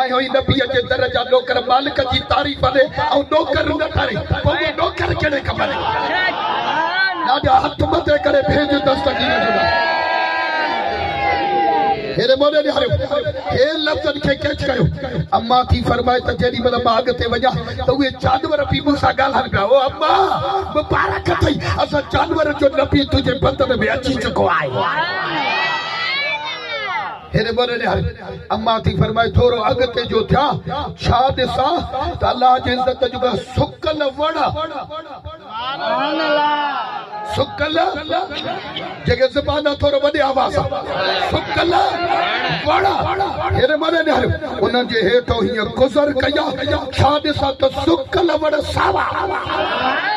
آيو ئي نبيء جي در جا نوڪر مالڪ جي تعريف ڏي ۽ نوڪر نه ٽري پوء اهو نوڪر ڪهڙي ڪم جو ڏاڏا هٿ مٿي ڪري ڀيڄ دست ڪيئن ڏنا. هيڏي موڏي نهاريو هي لفظن کي ڪيچ ڪيو اما ٿي فرمائي ته جيڏي مهل مان اڳتي وڃان ته اهي جانور به مون سان ڳالهائن پيا او اما مبارڪ اٿئي اسان جانورن جو نبي تنهنجي بدن ۾ اچي چڪو آهي. هيڏي ٻري نهاري اما ٿي فرمائي ٿورو اڳتي جو ٿيان ڇا ڏسان ته الله جي عزت جو گهر سڪل وڻ آ سبحان الله سڪل جيڪي زبان آ ٿورو وڏي آواز آ سڪل وڻ آ هيڏي ٻري نهاري انهن جي هيٺو هيئن گذر ڪيا ڇا ڏسان ته سڪل وڻ ساوا سبحان الله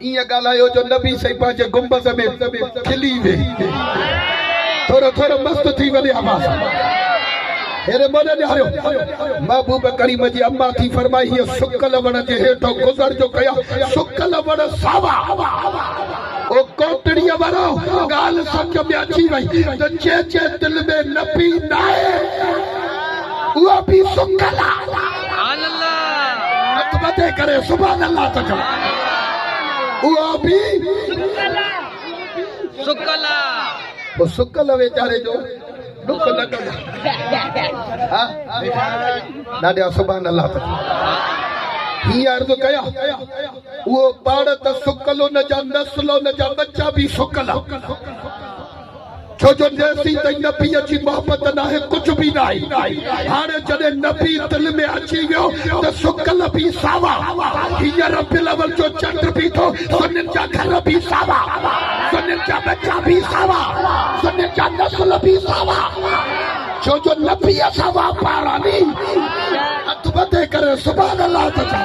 ائين ڳالهايو جو نبي سائين پنهنجي گنبذ ۾ کلي ويهي ٿورو ٿورو مست ٿي وڃي امان سان هيري مون ڏياريو محبوب ڪريم جي اما ٿي فرمائي هيء سڪل وڻ جي هيٺو گذر جو ڪيا سڪل وڻ ساوا او ڪوٽڙيء وارو ڳالهه سمجهه ۾ اچي وئي ته جنهن جي دل ۾ نبي ناهي اهو به سڪل آ هٿ مٿي ڪري سبحان الله ته چئو اهو به سڪل آ سڪل ويچاري جو ڏک نه ڪجا ها ڏاڍا سبحان الله ته هي عرض ڪيا اهو پاڙ ته سڪل ان جا نسل ان جا ٻچا به سڪل ڇو جو جيسين تائين نبيء جي محبت ناهي ڪجهه به ناهي. هاڻي جڏهن نبي دل ۾ اچي ويو ته سڪل به ساوا. هيء ربيع الاول جو چنڊ به ٿو، سنن جا گهر به ساوا، سنن جا ٻچا به ساوا، سنن جا نسل به ساوا. ڇو جو نبيء سان واپار آ ني. هٿ ٻڌي ڪري سبحان الله ته چئو.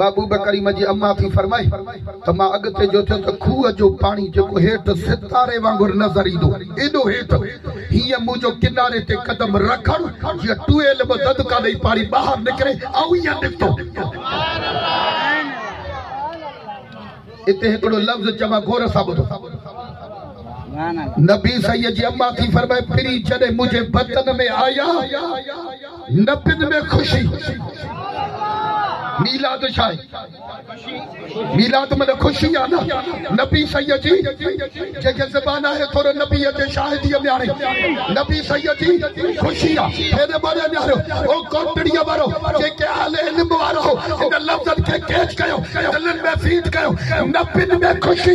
محبوبه ڪريمه جي اما ٿي فرمائي ته مان اڳتي جو ٿيو ته کوهه جو پاڻي جيڪو هيٺ ستاري وانگر نظر ايندو ايڏو هيٺ هيئن منهنجو ڪناري تي قدم رکڻ جيئن ٽوئيل به ددڪا ڏئي پاڻي ٻاهر نڪري آئون هيئن نڪتو اتي هڪڙو لفظ چوان غور سان ٻڌو نبي سيد جي اما ٿي فرمائي پھرين جڏهن منهنجي بدن ۾ آيا نبين ۾ خوشي ميلاد ڇا آهي؟ ميلاد معنيٰ خوشي آهي نه نبي سيد جي جنهن کي زبان آهي ٿورو نبي جي شاهدي مياڻي نبي سيد جي خوشي آهي پهرين ٻاري مياڻيو او ڪوٽڙي وارو جيڪي اهل علم وارو هو ان لفظن کي ڪيچ ڪيو دلن ۾ فيٽ ڪيو نبين ۾ خوشي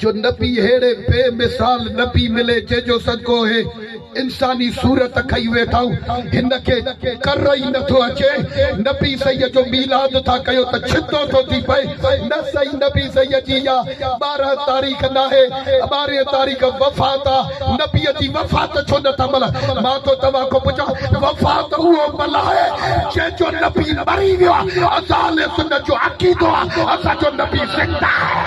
جو نبي ههڙي بي مثال نبي ملي جنهن جو صدقو هي انساني صورت کئي ويٺائون هن کي ڪر ئي نٿو اچي نبي صحيح جو ميلاد ٿا ڪيو ته ڇتو ٿو ٿي پئي نه سائين نبي صحيح جي اها ٻارهن تاريخ ناهي ٻارهين تاريخ وفات آ نبي جي وفات ڇو نٿا ملهايو مان ٿو توهان کان پڇان وفات اهو ملهائي جنهن جو نبي مري ويو آ اهو اهل سنت جو عقيدو آ اسان جو نبي زنده آهي.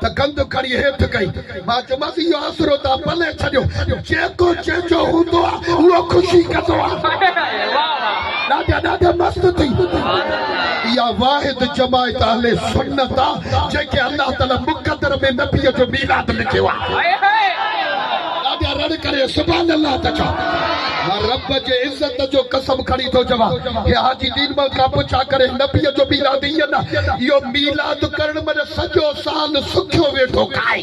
ته گند کڻي هيٺ ڪئي. مان چيومانس، اهو آسرو تان پلي ڇڏيو. جيڪو چيجو هوندو آ، اهو خوشي ڪندو آ. ڏاڍا ڏاڍا مست ٿي. اها واحد جماعت اهل سنت آ، جنهن کي الله تعاليٰ مقدر ۾ نبيء جو ميلاد لکيو آ. ڏاڍا رڙ ڪري سبحان الله ٿا چئو. مان رب جي عزت جو قسم کڻي ٿو چوان. هي حاجي دين مل کان پڇا ڪري نبيء جو ميلاد هي نه اهو ميلاد ڪرڻ مڙي سڄو سال سکيو ويٺو کائي.